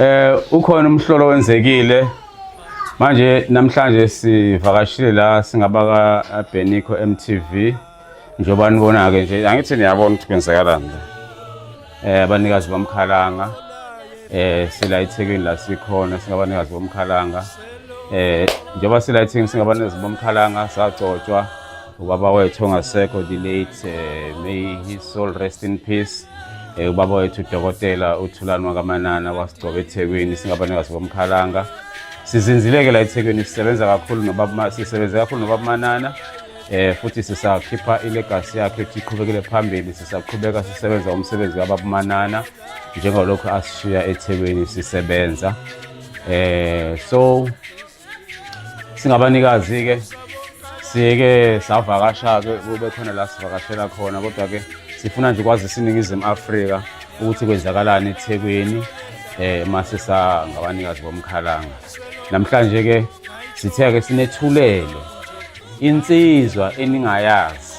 Eh ukhona umhlolo wenzekile manje namhlanje sivakashile la singabaka Benico MTV njengoba nibona ke nje angithi niyabona ukuthi kwenzakalani la eh abanikazi bomkhalanga eh sila eThekwini la sikhona singabanikazi bomkhalanga eh njengoba sila eThekwini singabanikazi bomkhalanga sagcotshwa ubaba wethu ongasekho the late eh, may his soul rest in peace um ubaba wethu udokotela uthulani wakamanana wasigcoba ethekwini singabanikazi bomkhalanga sizinzileke la ethekwini sisebenza kakhulu nobaba sisebenze kakhulu nobaba manana eh futhi sisakhipha ilegacy yakhe ukuthi iqhubekele phambili sisaqhubeka sisebenza umsebenzi kababumanana njengalokhu asishiya ethekwini sisebenza eh so singabanikazi-ke sike savakasha-ke kube khona la sivakashela khona kodwa-ke sifuna nje kwazisa iningizimu afrika ukuthi kwenzakalani ethekwini eh mase sangabanikazi bomkhalanga namhlanje ke sithe ke sinethulelo insizwa eningayazi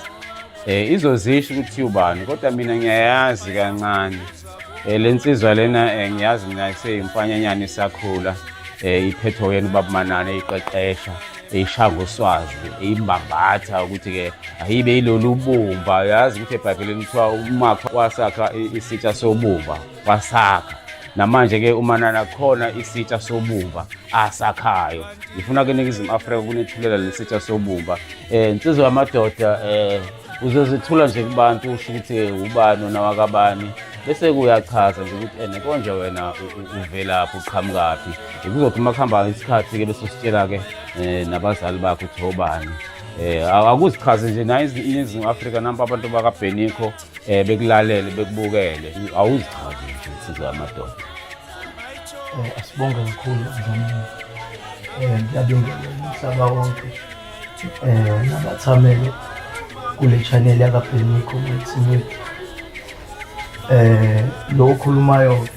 eh izozisho ukuthi ubani kodwa mina ngiyayazi kancane Eh, le nsizwa lena eh, ngiyazi mina iseyimfanyanyana isakhula eh, iphethwe uyena ubaba manana eyiqeqesha eyishaya ngoswazi eyimbambatha ukuthi-ke ayibe yilolu bumba yazi ukuthi ebhayibhelini kuthiwa umakha wasakha isitsha sobumba wasakha namanje-ke umanana khona isitsha sobumba asakhayo ngifuna ke ningizimu afrika kunethulela leli sitsha sobumba um nsizwa yamadoda um uzozethula nje kubantu usho ukuthi eh, ubani onawakabani bese kuyachaza nje ukuthi ene eh, konje wena uvelaphi uqhamukaphi kuzothi uma kuhamba isikhathi-ke bese usitshela-ke um eh, nabazali bakho ukuthi obani um akuzichaze nje nayo iningizimu afrika nampa abantu bakabhenikho um bekulalele bekubukele awuzichaze nje insizwa yamadoda um asibonge kakhulu mdlamini um ngiyabingelela umhlaba wonke um nabathamele kule chaneli yakabheniko methimeti um eh, lo okhulumayo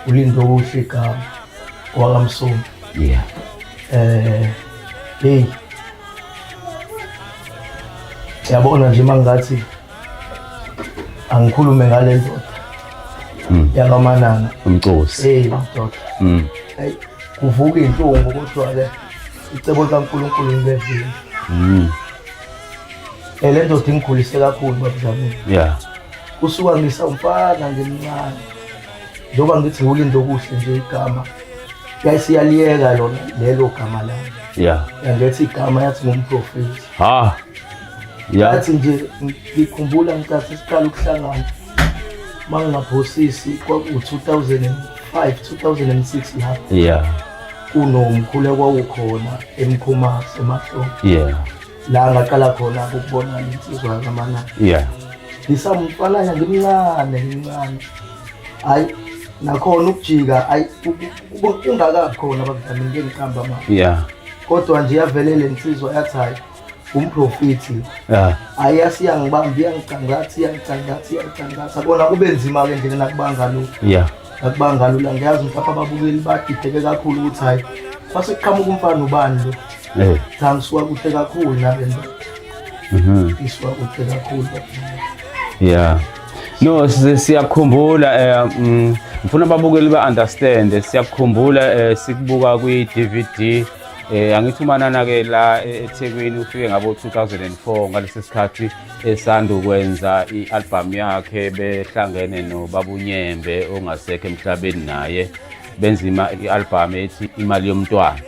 ulindo okuhle igama wakamsomi yeah eh hey yabona nje mangathi angikhulume ngale ndoda hmm. yakamanana umcosi hey madoda hmm. kuvuka inhlungu kodwa ke icebo likaNkulunkulu ngibevile mm. eh, le ndoda ingigulise kakhulu babudlamini yeah kusuka ngisawumfana ngimncane njengoba ngithi ulindo okuhle nje igama yayisiyaliyeka lona lelo gama lami yeah yangethi igama yathi ngumprofeti ha yeah yathi nje ngikhumbula ngikathi siqala ukuhlangana mangingaphosisi kwaku 2005 2006 lapho yeah kunomkhulu okwawukhona emkhumase emahlombe yeah la ngaqala khona ukubona insizwa kamana yeah ngisamfananya ngimncane ngimncane hayi nakhona ukujika hayi ungakabi khona bakudlamini ngiqamba manje yeah kodwa nje yavelele insizwa yathi hayi umprofethi yeah. ayi asiyangibambi iyangicangatha iyangicangatha iyangicangatha kona kube nzima-ke nje nakubanga lo yeah. nakubanga lula ngiyazi mhlawumbe ababukeli badideke kakhulu ukuthi hhayi kwase kuqhamuka umfana ubani lo hey. Eh. cha ngisuka kuhle kakhulu nale nto mhm. ngisuka kuhle kakhulu yeah no siyakhumbula um mm, ngifuna ababukeli ba-understande siyakhumbula um sikubuka kwi-d v d Eh angithi umanana ke la e- eThekwini ufike ngabo 2004 ngalesi sikhathi esanda ukwenza i-album yakhe behlangene noBabunyembe ongasekho emhlabeni naye benza ima- i-album ethi imali yomntwana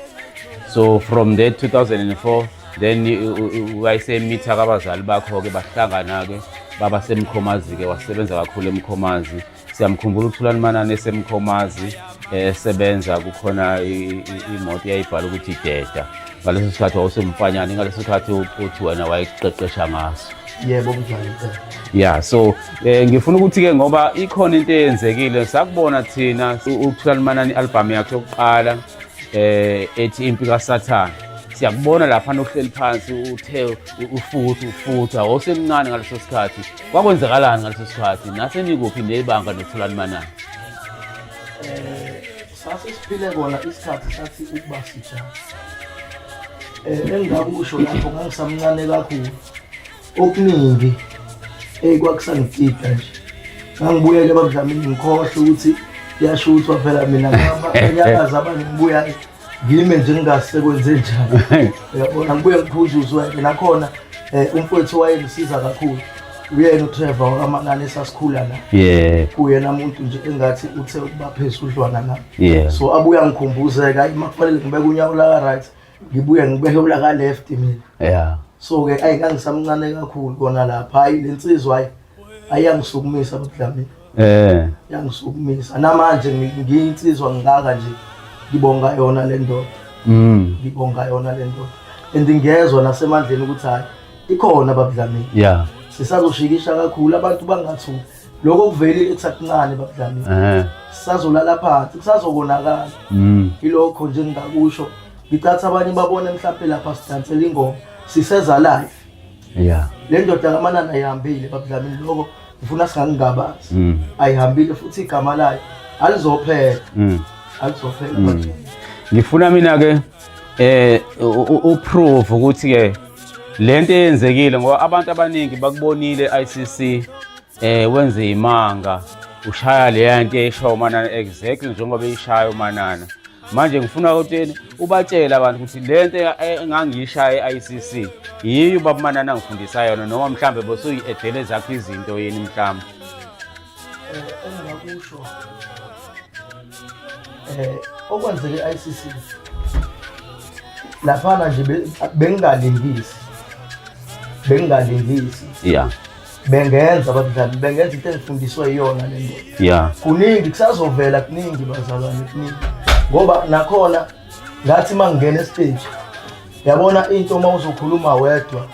so from that 2004 then i- u- u- wayesemitha kabazali bakho-ke bahlangana-ke baba semkhomazi-ke wasebenza kakhulu emkhomazi Siyamkhumbula uThulani Manane esemkhomazi esebenza kukhona imoto eyayibhala ukuthi ideda ngaleso sikhathi wawusemfanyane ngaleso sikhathi uthi wena wayeqeqesha ngaso yebo mdlali ya so eh, ngifuna ukuthi-ke ngoba ikhona into eyenzekile sakubona thina ukuthulani manani i-albhamu yakhe yokuqala um ethi impi kasathane siyakubona laphana uhleli phansi uthe ufuthi ufuthi awusemncane ngaleso sikhathi kwakwenzekalani ngaleso sikhathi nasenikuphi nebanga nokutholani manani sase siphile kona isikhathi sathi ukuba sisha um eh, engingakusho lapho ngangisamncane kakhulu okuningi eyi kwakusangitida nje ngangibuyele bakudlamini ngikhohle ukuthi kuyashuthwa phela mina abanyakazi abangibuyayo ngime nje ngingasekwenze njani uyabona ngibuye ngiphuzuzwe ke nakhona eh, umfowethu wayengisiza kakhulu uyena uTrevor wakamanani esasikhula la yeah kuyena umuntu nje engathi uthe ukuba phezulu udlwana na yeah so abuya ngikhumbuzeka hayi makufanele ngibeke unyawo la right ngibuye ngibeke ula ka left mina yeah so ke ayi kangisamncane kakhulu kona lapha hayi lensizwa hayi ayangisukumisa abudlamini eh yangisukumisa namanje ngiyinsizwa ngaka nje ngibonga yona le ndoda mm ngibonga yona le ndoda and ngiyezwa nasemandleni ukuthi hayi ikhona babudlamini yeah sisazoshikisha kakhulu abantu bangathuki lokho kuvele ekusakuncane babudlamini eh sisazolala phansi kusazokonakala mm ilokho nje ngingakusho ngicatha abanye babone mhlawumbe lapha sidansela ingoma siseza live Yeah. Le ndoda kaManana ayihambile babudlamini lokho ngifuna singakungabazi. Mm. Ayihambile futhi igama layo alizophela. Mm. Alizophela. Mm. Ngifuna mina ke eh uprove ukuthi ke lento eyenzekile ngoba abantu abaningi bakubonile ICC Eh wenze imanga ushaya leya nto esho uManana exactly njengoba ishaya uManana. Manje ngifuna ukuthi ubatshele abantu ukuthi le nto engangiyishaya e-ICC yiyo ubaba uManana angifundisa yona noma mhlambe bosuyi-edele zakho izinto yini mhlawumbe. Eh engingakusho eh okwenzeke e-ICC laphana nje bengingalingisi bengingalingisi yeah bengenza abadlali bengenza into ezifundiswe iyona le nto ya kuningi kusazovela kuningi bazalwane kuningi ngoba nakhona ngathi uma ngingena esiteji yabona into uma uzokhuluma wedwa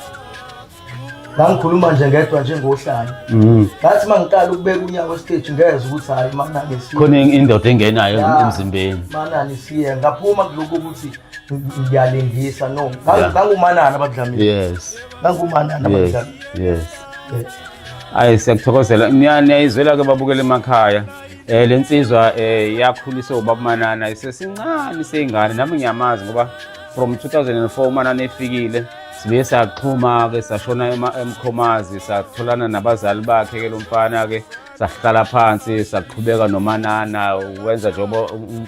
ngangikhuluma nje ngedwa njengohlala mm. ngathi uma ngiqala ukubeka unyawo esiteji ngeze ukuthi hhayi manani khona indoda engenayo emzimbeni manani siye ngaphuma kulokhu ukuthi ngiyalingisa no ngangumanani abadlamile yes nangumana namandla yes ayi siyakuthokozela niyayizwela ke babukela emakhaya eh le nsizwa eh yakhuliswa ubaba Manana isesincane seyingane nami ngiyamazi ngoba from 2004 uManana efikile sibe saxhuma ke sashona emkhomazi satholana nabazali bakhe ke lomfana ke sahlala phansi saqhubeka nomanana wenza njengoba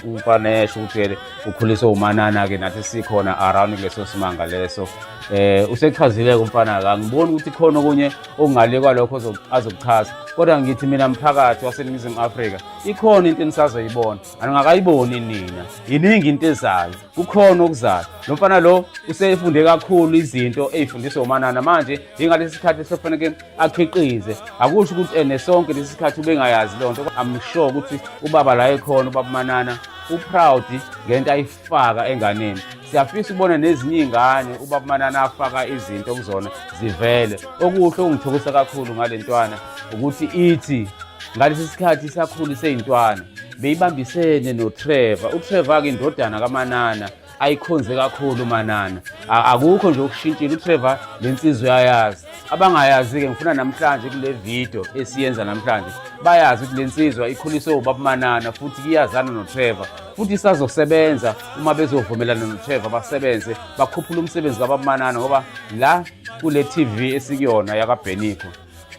umfana esho ukuthi ukhuliswe umanana-ke nathi sikhona around kuleso simanga leso eh usechazile-ke umfana-ke angiboni ukuthi khona okunye okungale kwalokho azokuchaza kodwa ngithi mina mphakathi waseningizimu afrika ikhona into enisazoyibona aningakayiboni nina yiningi into ezayo kukhona okuzayo lo mfana lo usefunde kakhulu izinto ey'fundiswa umanana manje yingalesi sikhathi sekufaneke akhiqize akusho ukuthi ene sonke lesi sikhathi ubengayazi loo nto amsure ukuthi ubaba la ekhona ubaba manana uproud ngento ayifaka enganeni siyafisa ukubona nezinye iy'ngane ubaba manana afaka izinto kuzona zivele okuhle okungithokosa kakhulu ngale ntwana ukuthi ithi ngalesi sikhathi isakhulu seyintwana beyibambisene noTrevor uTrevor-ke indodana kaManana ayikhonze kakhulu uManana akukho nje okushintshile uTrevor le nsizwa uyayazi abangayazi-ke ngifuna namhlanje kule video esiyenza namhlanje bayazi ukuthi le nsizwa ikhuliswe ubaba Manana futhi iyazana noTrevor futhi isazosebenza uma bezovumelana noTrevor basebenze bakhuphula umsebenzi kababumanana ngoba la kule TV esikuyona yakaBheniko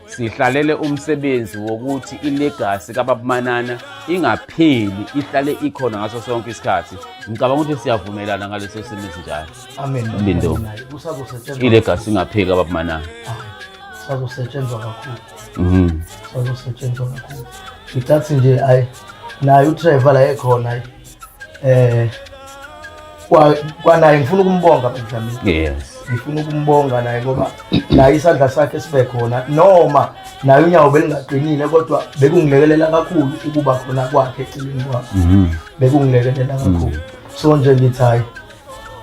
Sihlalele umsebenzi wokuthi ilegasi kaBabManana ingapheli ihlale ikhona ngaso sonke isikhathi. Ngicabanga ukuthi siyavumelana ngaleso simo esinjalo. Amen. Lindo. Kusazosetshenzwa. Ilegasi ingapheli kaBabManana. Sazosetshenzwa kakhulu. Mhm. Sazosetshenzwa kakhulu. Ngithathi nje ayi naye uTrevor la ekhona ayi. eh kwa kwanaye ngifuna ukumbonga Benjamin yes ngifuna ukumbonga naye ngoba naye isandla sakhe sibe khona noma naye unyawo belingaqinile kodwa bekungilekelela kakhulu ukuba khona kwakhe eceleni kwakhe mhm. bekungilekelela mhm. kakhulu so nje ngithi hayi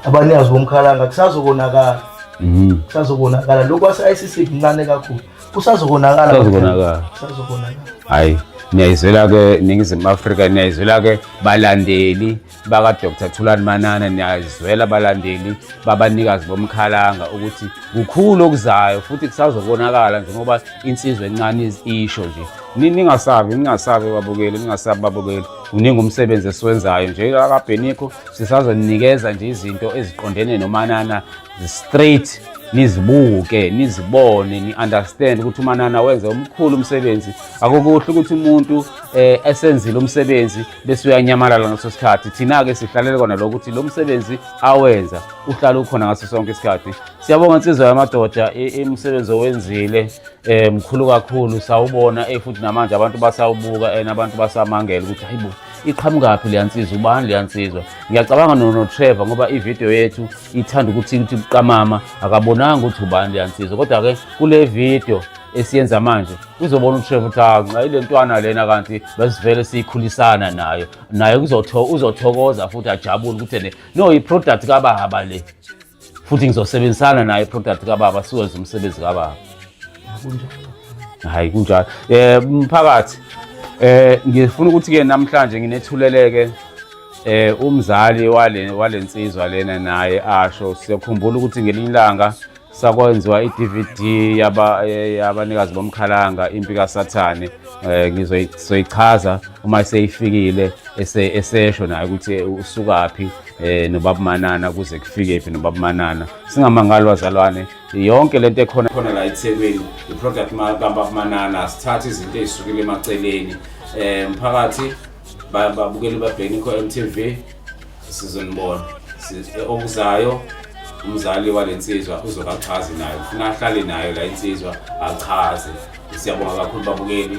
abanikazi bomkhalanga kusazokonakala mhm. kusazokonakala lokhu ase-icc kuncane kakhulu Kusazokonakala. Kusazokonakala. Kusazokonakala. Hayi. niyayizwela ke ningizimu afrika niyayizwela ke balandeli bakadr thulani manana niyayizwela balandeli babanikazi bomkhalanga ukuthi kukhulu okuzayo futhi kusazobonakala njengoba insizwa encane isho nje ningasabi ningasabi babukeli ningasabi babukeli uningi umsebenzi esiwenzayo nje akabhenikho sisazonikeza nje izinto eziqondene nomanana straight nizibuke nizibone ni-understand ukuthi umanana wenze umkhulu umsebenzi akokuhle ukuthi umuntu eh, esenzile umsebenzi bese uyanyamalala ngaso sikhathi thina-ke sihlalele kona lokho ukuthi lo msebenzi awenza uhlale ukhona ngaso sonke isikhathi siyabonga insizwa yamadoda imisebenzi owenzile um mkhulu kakhulu sawubona eh, futhi namanje abantu basawubuka and abantu basamangela ukuthi hayibo iqhamukaphi leya nsizwa ubani leya nsizwa ngiyacabanga nonotrevor ngoba ividiyo yethu ithanda ukuthi ukuthi buqamama akabonanga ukuthi ubani leya nsizwa kodwa-ke kule vidiyo esiyenza manje uzobona utrevor ukuthi anxa ile ntwana lena kanti besivele siyikhulisana nayo naye uzothokoza futhi ajabule ukuthi ne no i-product kababa le futhi ngizosebenzisana naye product kababa siwenze umsebenzi kababa hayi kunjalo eh mphakathi eh ngifuna ukuthi ke namhlanje nginethuleleke eh umzali wale walensizwa lena naye asho siyakhumbula ukuthi ngelinye ilanga sakwenziwa i-DVD yaba eh, yabanikazi bomkhalanga impi kaSathane eh ngizoyichaza uma seyifikile esesho naye ukuthi usukaphi eh nobabumanana kuze kufike phi nobabumanana singamangalo wazalwane yonke lento ekhona khona la eThekwini iproduct kababumanana sithatha izinto ezisukile emaceleni eh mphakathi babukeli babhekeni kho MTV sizonibona eh, okuzayo umzali walensizwa uzokachazi nayo ufuna ahlale nayo la insizwa achaze siyabonga kakhulu babukeli